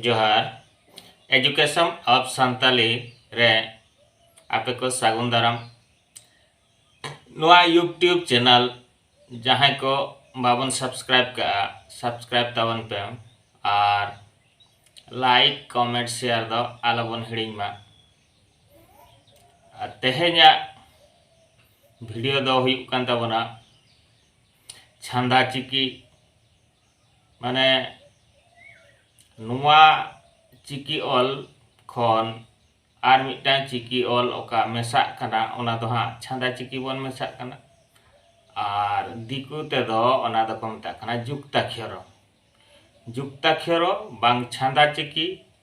ᱡᱚᱦᱟᱨ education of Santali ᱨᱮ ᱟᱯᱮ ᱠᱚ ᱥᱟᱹᱜᱩᱱ ᱫᱟᱨᱟᱢ ᱱᱚᱣᱟ ᱭᱩᱴᱩᱵᱽ ᱪᱮᱱᱮᱞ ᱡᱟᱦᱟᱸᱭ ᱠᱚ ᱵᱟᱵᱚᱱ ᱥᱟᱵᱥᱠᱨᱟᱭᱤᱵ ᱠᱟᱜᱼᱟ ᱥᱟᱵᱥᱠᱨᱟᱭᱤᱵ ᱛᱟᱵᱚᱱ ᱯᱮ ᱟᱨ ᱞᱟᱭᱤᱠ ᱠᱚᱢᱮᱱᱴ ᱥᱮᱭᱟᱨ ᱫᱚ ᱟᱞᱚᱵᱚᱱ ᱦᱤᱲᱤᱧ ᱢᱟ ᱟᱨ ᱛᱮᱦᱮᱧᱟᱜ ᱵᱷᱤᱰᱤᱭᱳ ᱫᱚ ᱦᱩᱭᱩᱜ ᱠᱟᱱ ᱛᱟᱵᱚᱱᱟ ᱪᱷᱟᱸᱫᱟ ᱪᱤᱠᱤ ᱢᱟᱱᱮ ᱱᱚᱣᱟ ᱪᱤᱠᱤ ᱚᱞ ᱠᱷᱚᱱ ᱟᱨ ᱢᱤᱫᱴᱟᱝ ᱪᱤᱠᱤ ᱚᱞ ᱚᱠᱟ ᱢᱮᱥᱟᱜ ᱠᱟᱱᱟ ᱚᱱᱟ ᱫᱚ ᱦᱟᱸᱜ ᱪᱷᱟᱸᱫᱟ ᱪᱤᱠᱤ ᱵᱚᱱ ᱢᱮᱥᱟᱜ ᱠᱟᱱᱟ ᱟᱨ ᱫᱤᱠᱩ ᱛᱮᱫᱚ ᱚᱱᱟ ᱫᱚᱠᱚ ᱢᱮᱛᱟᱜ ᱠᱟᱱᱟ ᱡᱩᱠᱛᱟᱠᱷᱚᱨᱚ ᱡᱩᱠᱛᱟᱠᱷᱚᱨᱚ ᱵᱟᱝ ᱪᱷᱟᱸᱫᱟ ᱪᱤᱠᱤ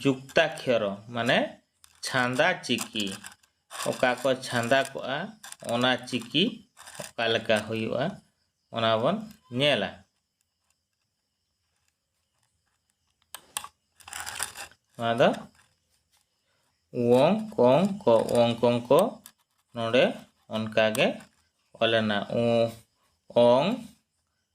ᱡᱩᱠᱛᱟᱠᱷᱭᱚᱨᱚ ᱢᱟᱱᱮ ᱪᱷᱟᱸᱫᱟ ᱪᱤᱠᱤ ᱚᱠᱟ ᱠᱚ ᱪᱷᱟᱸᱫᱟ ᱠᱚᱜᱼᱟ ᱚᱱᱟ ᱪᱤᱠᱤ ᱚᱠᱟ ᱞᱮᱠᱟ ᱦᱩᱭᱩᱜᱼᱟ ᱚᱱᱟ ᱵᱚᱱ ᱧᱮᱞᱟ ᱱᱚᱣᱟ ᱫᱚ ᱣᱚᱝ ᱠᱚᱝ ᱠᱚ ᱣᱚᱝ ᱠᱚᱝ ᱠᱚ ᱱᱚᱰᱮ ᱚᱱᱠᱟᱜᱮ ᱚᱞᱮᱱᱟ ᱩ ᱚᱝ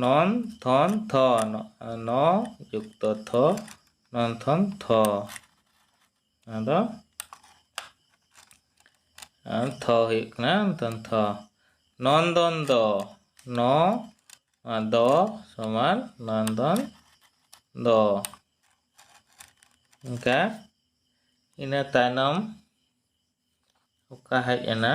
ᱱᱚᱱ ᱛᱷᱚᱱ ᱛᱷᱚ ᱱᱚ ᱡᱩᱠᱛᱚ ᱛᱷᱚ ᱱᱚᱱ ᱛᱷᱚᱱ ᱛᱷᱚ ᱟᱫᱚ ᱛᱷᱚ ᱦᱩᱭᱩᱜ ᱠᱟᱱᱟ ᱱᱚᱱ ᱛᱷᱚ ᱱᱚᱱᱫᱚᱱ ᱫᱚ ᱱᱚ ᱫᱚ ᱥᱚᱢᱟᱱ ᱱᱚᱱᱫᱚᱱ ᱫᱚ ᱚᱱᱠᱟ ᱤᱱᱟᱹ ᱛᱟᱭᱱᱚᱢ ᱚᱠᱟ ᱦᱮᱡ ᱮᱱᱟ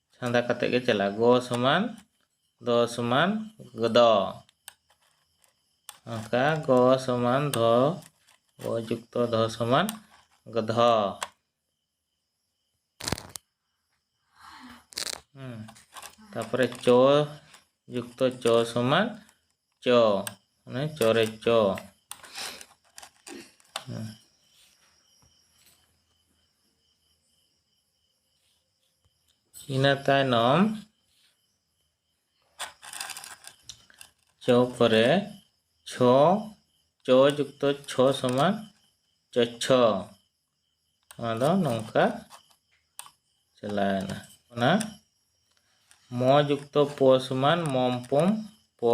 ᱪᱷᱟᱸᱫᱟ ᱠᱟᱛᱮ ᱜᱮ ᱪᱟᱞᱟᱜᱼᱟ ᱜᱚ ᱥᱚᱢᱟᱱ ᱫᱚ ᱥᱚᱢᱟᱱ ᱜᱚᱫᱚ ᱚᱱᱠᱟ ᱜᱚ ᱥᱚᱢᱟᱱ ᱫᱷᱚ ᱜᱚ ᱡᱩᱠᱛᱚ ᱫᱷᱚ ᱥᱚᱢᱟᱱ ᱜᱚᱫᱷᱚ ᱛᱟᱯᱚᱨᱮ ᱪᱚ ᱡᱩᱠᱛᱚ ᱪᱚ ᱥᱚᱢᱟᱱ ᱪᱚ ᱢᱟᱱᱮ ᱪᱚᱨᱮ ᱪᱚ ᱤᱱᱟᱹ ᱛᱟᱭᱱᱚᱢ ᱪᱚᱯ ᱨᱮ ᱪᱷᱚ ᱪᱚ ᱡᱩᱠᱛᱚ ᱪᱷᱚ ᱥᱚᱢᱟᱱ ᱪᱚᱪᱷᱚ ᱱᱚᱣᱟ ᱫᱚ ᱱᱚᱝᱠᱟ ᱪᱟᱞᱟᱣᱮᱱᱟ ᱚᱱᱟ ᱢᱚ ᱡᱩᱠᱛᱚ ᱯᱚ ᱥᱚᱢᱟᱱ ᱢᱚᱢ ᱯᱚᱢ ᱯᱚ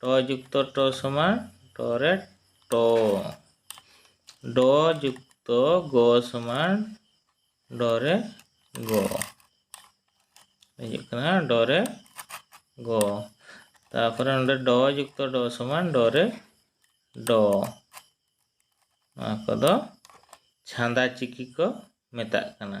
ᱴᱚ ᱡᱩᱠᱛᱚ ᱴᱚ ᱥᱚᱢᱟᱱ ᱴᱚ ᱨᱮ ᱴᱚ ᱰᱚ ᱡᱩᱠᱛᱚ ᱜᱚ ᱥᱚᱢᱟᱱ ᱰᱚ ᱨᱮ ᱜᱚ ᱦᱤᱡᱩᱜ ᱠᱟᱱᱟ ᱰᱚ ᱨᱮ ᱜᱚ ᱛᱟᱨᱯᱚᱨᱮ ᱱᱚᱰᱮ ᱰᱚ ᱡᱩᱠᱛᱚ ᱰᱚ ᱥᱚᱢᱟᱱ ᱰᱚ ᱨᱮ ᱰᱚ ᱱᱚᱣᱟ ᱠᱚᱫᱚ ᱪᱷᱟᱸᱫᱟ ᱪᱤᱠᱤ ᱠᱚ ᱢᱮᱛᱟᱜ ᱠᱟᱱᱟ